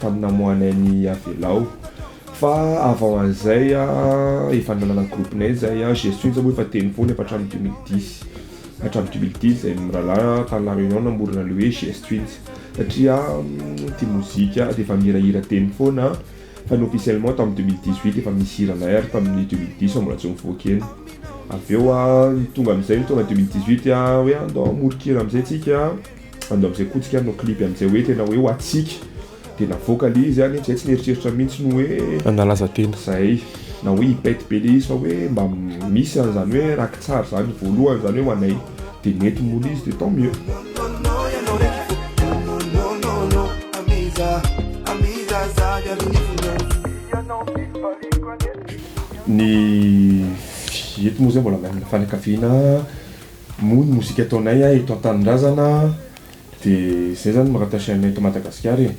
tamin'ny namoahany ahy ny Avelao fa avant an'izay efa nanana groupe nay zay aho, Jesoa Intsy moa efa teny foana efa hatramin'ny deux mille dix hatramin'ny deux mille dix zay mirahalahy tany la Réunion namorona le hoe Jesoa Intsy satria tia mozika dia efa mihirahira teny foana fa ny officiellement tamin'ny deux mille dix huit efa misy hiranay ary tamin'ny deux mille dix fa mbola tsy nivoaka eny avy eo tonga amin'izay ny taona deux mille dix huit hoe andao hamoron-kira amin'izay tsika Andao amzay koa tsika hanao clip amzay hoe tena hoe ho atsika de navoaka le izy any zay tsy nieritreritra mintsy ny hoe hanalaza tena zay na hoe hipète be le izy fa hoe mba misy anzany hoe rakitsary zany voalohany zany hoe ho anay de nety moa le izy de tant mieux. Ny fety moa zay mbola mianina fanakaviana. Moa ny mozika ataonay a eto an-tanindrazana de zay zany mi rattacher anay eto Madagasikara e,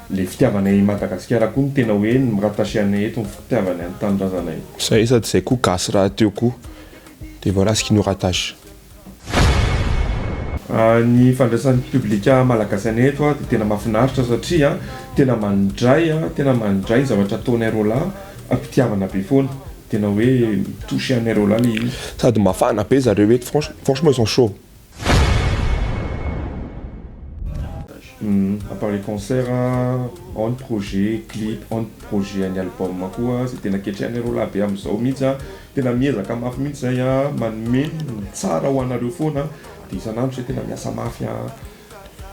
le fitiavanay i Madagasikara koa no tena hoe mi rattacher anay eto ny fitiavany an'ny tanindrazanay. Zay sady zay koa gasy rahateo koa de voilà ce qui nous rattache. Ny fandraisan'ny publika malagasy anay eto a de tena mafinaritra satria tena mandray a tena mandray ny zavatra ataonay roalahy am-pitiavana be foana. Tena hoe mi-touche anareo lahy le hira. Sady mafana be zareo eto franchement franchement ils sont chauds. A part les concerts ao ny projet clip ao ny projet ny album koa zay tena ketrehanareo lahy be amzao mihitsy a tena miezaka mafy mihitsy zay a manome ny tsara ho anareo foana de isan'andro zay tena miasa mafy a.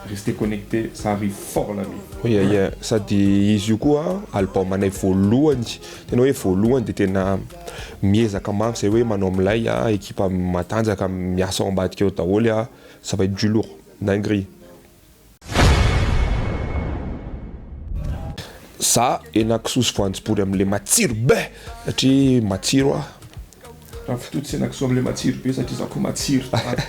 Restez connectés ça arrive fort la nuit. Ia ia, sady izy io koa album anay voalohany, tena hoe voalohany dia tena miezaka mafy zay hoe manao milay a, ekipa matanjaka miasa ao ambadika ao daholo a, ça va être du lourd, dinguerie. Za hena kisoa sy voanjobory amin'ilay matsiro be satria matsiro aho. Raha fitoto sy hena kisoa amin'ilay matsiro be satria za koa matsiro tsara.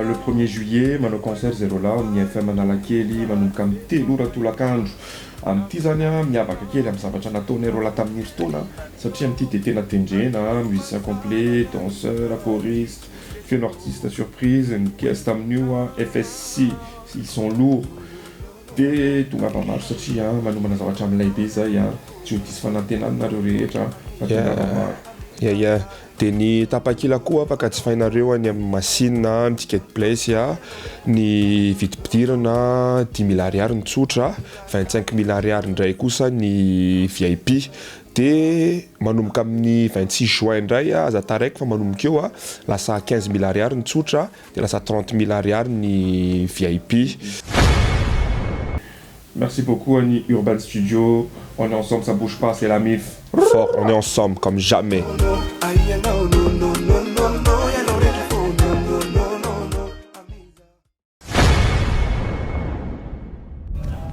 Le premier juillet manao concert zay roalahy ao amin'ny FM Analakely manomboka amin'ny telo ora tolakandro. Amin'ity izany miavaka kely amin'ny zavatra nataonay roalahy tamin'ny herintaona satria amin'ity dia tena tendrena, musiciens complets, danseurs, choristes, Feno artiste surprise ny pièce tamin'io an, FSC ils sont lourds de tongava maro satria an manomana zavatra milay be zay an, tsy ho diso fanantenana nareo rehetra fa tongava maro. Ya ya de ny tapakila koa afaka jifainareo any amin'ny machine an, ny ticket place an, ny vidim-pidirana dimy mille ariary ny tsotra, vingt cinq mille ariary indray kosa ny vip Dia manomboka amin'ny vingt six juin indray a, aza taraiko fa manomboka eo a, lasa quinze mille ariary ny tsotra, dia lasa trente mille ariary ny vip. Merci beaucoup an'i Urban Studio, on est ensemble ça bouge pas c'est la mif. Fort on est ensemble comme jamais.